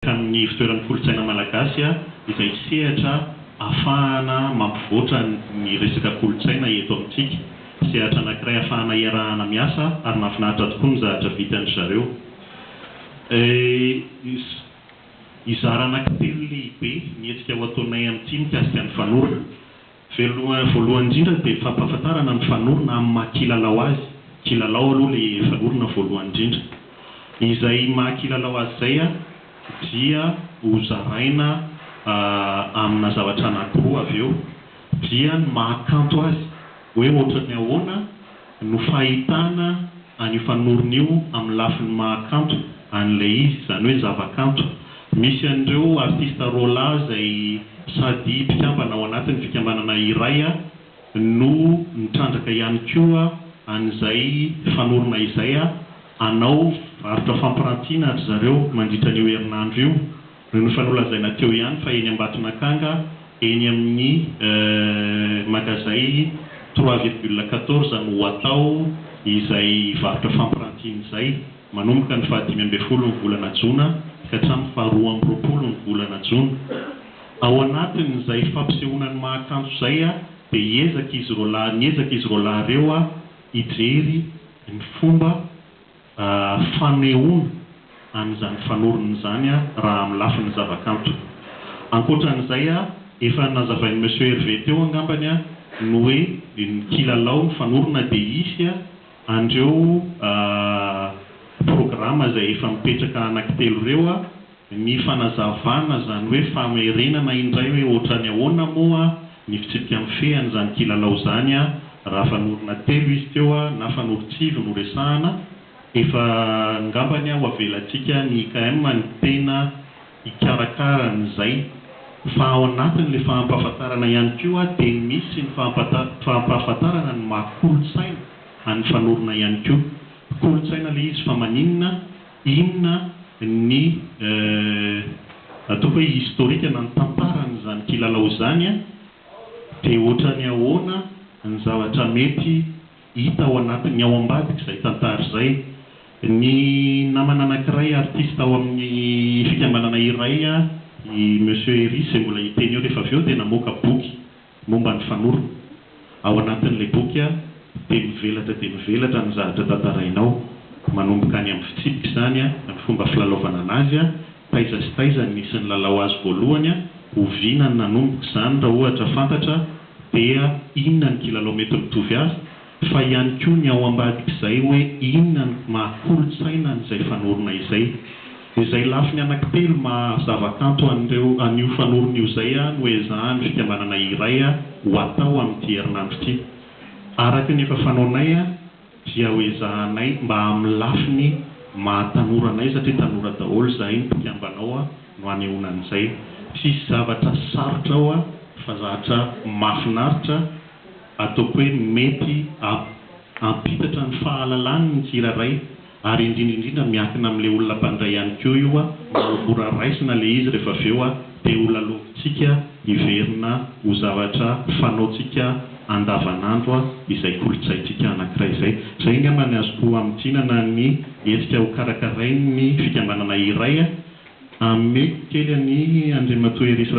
tamin'ny ivontoeran'ny kolontsaina malagasy izay sehatra afahana mampivoatra ny resaka kolontsaina eto amintsika. Sehatra anankiray afahana iarahana miasa ary mahafinaritra tokoa ny zahatra vitan-dry zareo. Hizara anankitelo lehibe ny hetsika ho ataonay amin'ity mikasika ny fanorona. Velona voalohany indrindra dia fampahafantarana ny fanorona amin'ny maha kilalao azy, kilalao aloha ilay fanorona voalohany indrindra. Izay maha kilalao azy izay dia ho zaraina amina zavatra anankiroa avy eo dia ny maha kanto azy hoe ohatran'ny ahoana no fahitana an'io fanorona io amin'ny lafiny maha kanto an'ilay izy, izany hoe zavakanto. Misy an'ireo artista rola izay sady mpikambana ao anatin'ny fikambanana iray no nitrandraka ihany koa an'izay fanorona izay hanao varotra fampirantiana ry zareo mandritra an'io herinandro io. Noho ny fa nolazaina teo ihany fa eny Ambatonakanga, eny amin'ny magazay trois virgule quatorze no ho atao izay varotra fampirantiana izay, manomboka ny faha dimy ambin'ny folo ny volana jona ka hatramin'ny faha roa amby roapolo ny volana jona. Ao anatin'izay fampisehoana ny maha kanto izay dia hiezaka izy roalahy niezaka izy roalahy ireo hijery ny fomba. fanehoana an'izany fanorony izany raha amin'ny lafiny zavakanto. Ankoatran'izay, efa nazavain'i Monsieur Hervé teo angambany ny hoe ny kilalao, ny fanorona dia hisy an'ireo programa izay efa mipetraka anankitelo ireo. Ny fanazavana izany hoe famerenana indray hoe ohatrany ahoana moa ny fitsipika mifehy an'izany kilalao izany raha fanorona telo izy teo na fanorontsivy no resahana, efa ngambany ho avelantsika ny IKM ny tena hikarakara an'izay fa ao anatin'ilay fahampahafantarana ihany koa dia misy ny fahampahafantarana ny maha kolontsaina an'ny fanorona ihany koa. Kolontsaina ilay izy fa maninona? Inona ny ataoko hoe historique na ny tantaran'izany kilalao izany dia ohatran'ny ahoana ny zavatra mety hita ao anatin'ny ao ambadik'izay tantara izay. Ny namana anankiray artiste ao amin'ny fikambanana iray i Monsieur Hery izay mbola hiteny eo rehefa avy eo dia namoaka boky. Momba ny fanorona. Ao anatin'ilay boky dia mivelatra dia mivelatra ny zavatra tantarainao, manomboka any amin'ny fitsipika izany, ny fomba filalaovana an'azy, taiza sy taiza no nisy nilalao azy voalohany, oviana no nanomboka izany raha ohatra fantatra dia inona ny kilalao mety mitovy azy, fa ihany koa ny ao ambadik'izay hoe inona ny maha kolontsaina an'izay fanorona izay. Izay lafiny anankitelo maha zavakanto an'ireo an'io fanorona io izay no ezahan'ny fikambanana iray ho atao amin'ity herinandro ity. Araka ny efa fanaonay dia ho ezahanay mba amin'ny lafiny maha tanora anay satria tanora daholo izahay ny mpikambana ao no hanehoana an'izay. Tsisy zavatra sarotra ao fa zatra mahafinaritra. Ataoko hoe mety hampitatra ny fahalalany ny tsirairay ary indrindra indrindra miankina amin'ilay olona mpandray ihany koa io mba ho mora raisina ilay izy rehefa avy eo dia ho lalaovintsika hiverina ho zavatra fanaontsika andavanandro izay kolontsaintsika anankiray izay. Izay angamba ny azoko hamintinana ny hetsika ho karakarain'ny fikambanana iray. Ameko kely an'i Andriamatoa Hery Israfy.